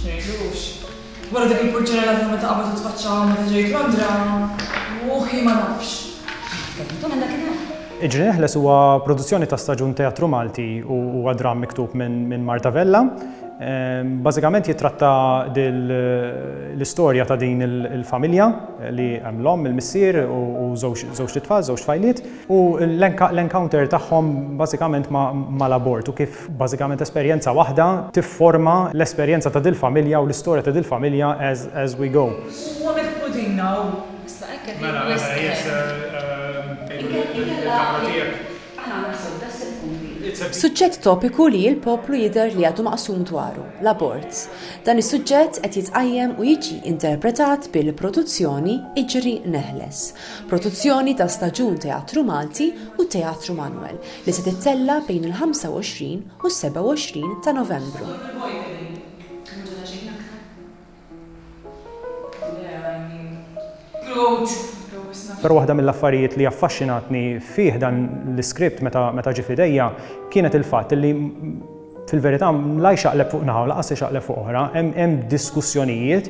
X'ngħidlux. Wara dik il-purċellena ta' meta qabad u tfaċċa hawn meta ġejt Londra, ruħi ma nafx. Jekk tkellmu dwar għandha kien hemm. Iġri Neħles huwa produzzjoni ta' staġun teatru Malti u huwa dramm miktub minn Marta Vella. Bażikament jittratta l-istorja ta' din il-familja li hemm l-omm, il-missier u żewġt itfal, żewġt tfajliet u l-encounter tagħhom bażikament mal-abort u kif Bażikament esperjenza waħda tifforma l-esperjenza ta' dil-familja u l-istorja ta' dil-familja as as we go. Huwa mill-Qudin hawn. Issa hekk qed jgħid wisq ħin. Inkella jekk aħna naħsbu daqs il-punti. Suġġett topiku li l-poplu jidher li għadu maqsum dwaru, l-abort. Dan is-suġġett qed jitqajjem u jiġi interpretat bil-produzzjoni Iġri Neħles. Produzzjoni ta' staġun Teatru Malti u Teatru Manwel. li se tittella' bejn il-25 u s-27 ta' Novembru. Però waħda mill-affarijiet li affaxxinatni fih dan l-iskript meta ġie f'idejja kienet il-fatt illi fil-verità la jxaqleb fuq naħa u lanqas ixaqleb fuq oħra. Hemm diskussjonijiet,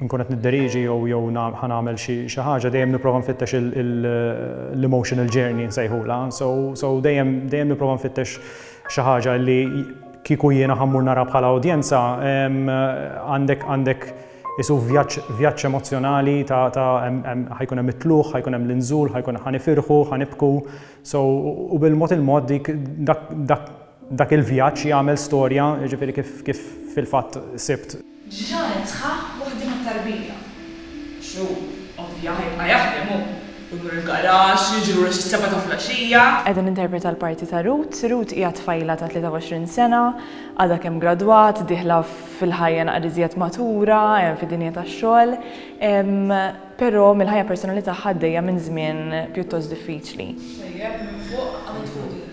nkun qed nidderieġi jew jew na ħa nagħmel xi xi ħaġa dejjem nipprova nfittex il il l-emotional journey nsejħulha so so dejjem dejjem nipprova nfittex xi ħaġa li kieku jiena ħa mmur nara bħala udjenza għandek għandek isu vjaġġ vjaġġ emozzjonali ta' ta' ħa jkun hemm it-tlugħ, ħa jkun hemm l-inżul, ħa jkun ħa nifirħu, ħa nibku so u bil-mod il-mod dik dak dak dak il-vjaġġ jagħmel storja jiġifieri kif kif fil-fatt sibt Ġranet sħaħ waħda mat-tarbija. Xhur, ovvja, ħajibqa' jaħdem hu. U jmur il-garaxx, jiġi lura xi sebgħa ta' flaxxija. Qiegħda ninterpreta l-parti ta' Ruth. Ruth hija tfajla ta' 23 sena, għadha kemm gradwat, dieħla fil-ħajja naqra iżjed matura, fid-dinja tax-xogħol. Però mill-ħajja personali tagħha għaddejja minn żmien pjuttost diffiċli. X'tajjeb minn fuq għamlet Rudina.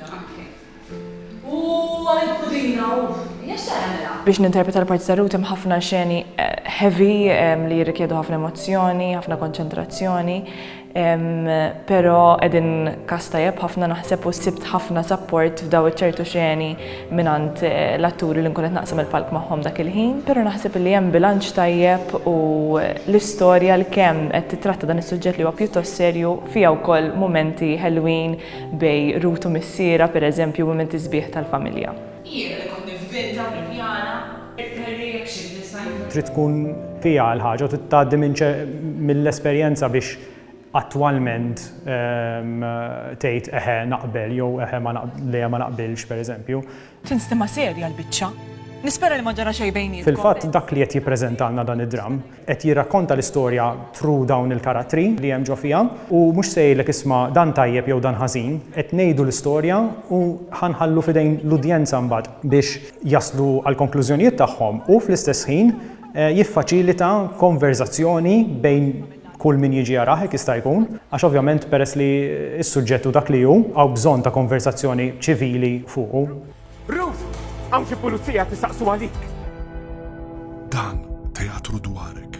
U għalik pudina, uff, hija x'se jagħmilha? Biex ninterpreta l-parti ta' Ruth hemm ħafna xeni heavy li jirrikjedu ħafna emozzjoni, ħafna konċentrazzjoni, però qegħdin cast tajjeb ħafna naħseb u sibt ħafna support f'daw iċ-ċertu xeni mingħand l-atturi li nkun qed naqsam il-palk magħhom dak il-ħin, però naħseb li hemm bilanċ tajjeb u l-istorja għalkemm qed titratta dan is-suġġett li huwa pjuttost serju fiha wkoll mumenti ħelwin bejn Rut u missierha, pereżempju, u mumenti sbieħ tal-familja. Jiena li kont nivvinta u nippjana, irtali jekk xi design. Trid tkun fiha l-ħaġa u trid tgħaddi minn mill-esperjenza biex attwalment tgħid eħe naqbel jew eħe ma lejha ma naqbilx, pereżempju. Tinstima serja l-biċċa. Nispera li ma ġara xejn bejnietkom. Fil-fatt dak li qed jippreżentalna dan id-dramm qed jirrakkonta l-istorja through dawn il-karattri li hemm ġo fiha u mhux se jgħidlek isma' dan tajjeb jew dan ħażin, qed ngħidu l-istorja u ħa nħallu f'idejn l-udjenza mbagħad biex jaslu għall-konklużjonijiet tagħhom u fl-istess ħin jiffaċilita konverżazzjoni bejn Kull min jiġi jarah hekk jista' jkun, għax ovvjament peress li s-suġġett hu dak li hu, hawn bżonn ta' konversazzjoni ċivili fuqu. Ruth! Hawn xi pulizija qed isaqsu għalik! Dan teatru dwarek.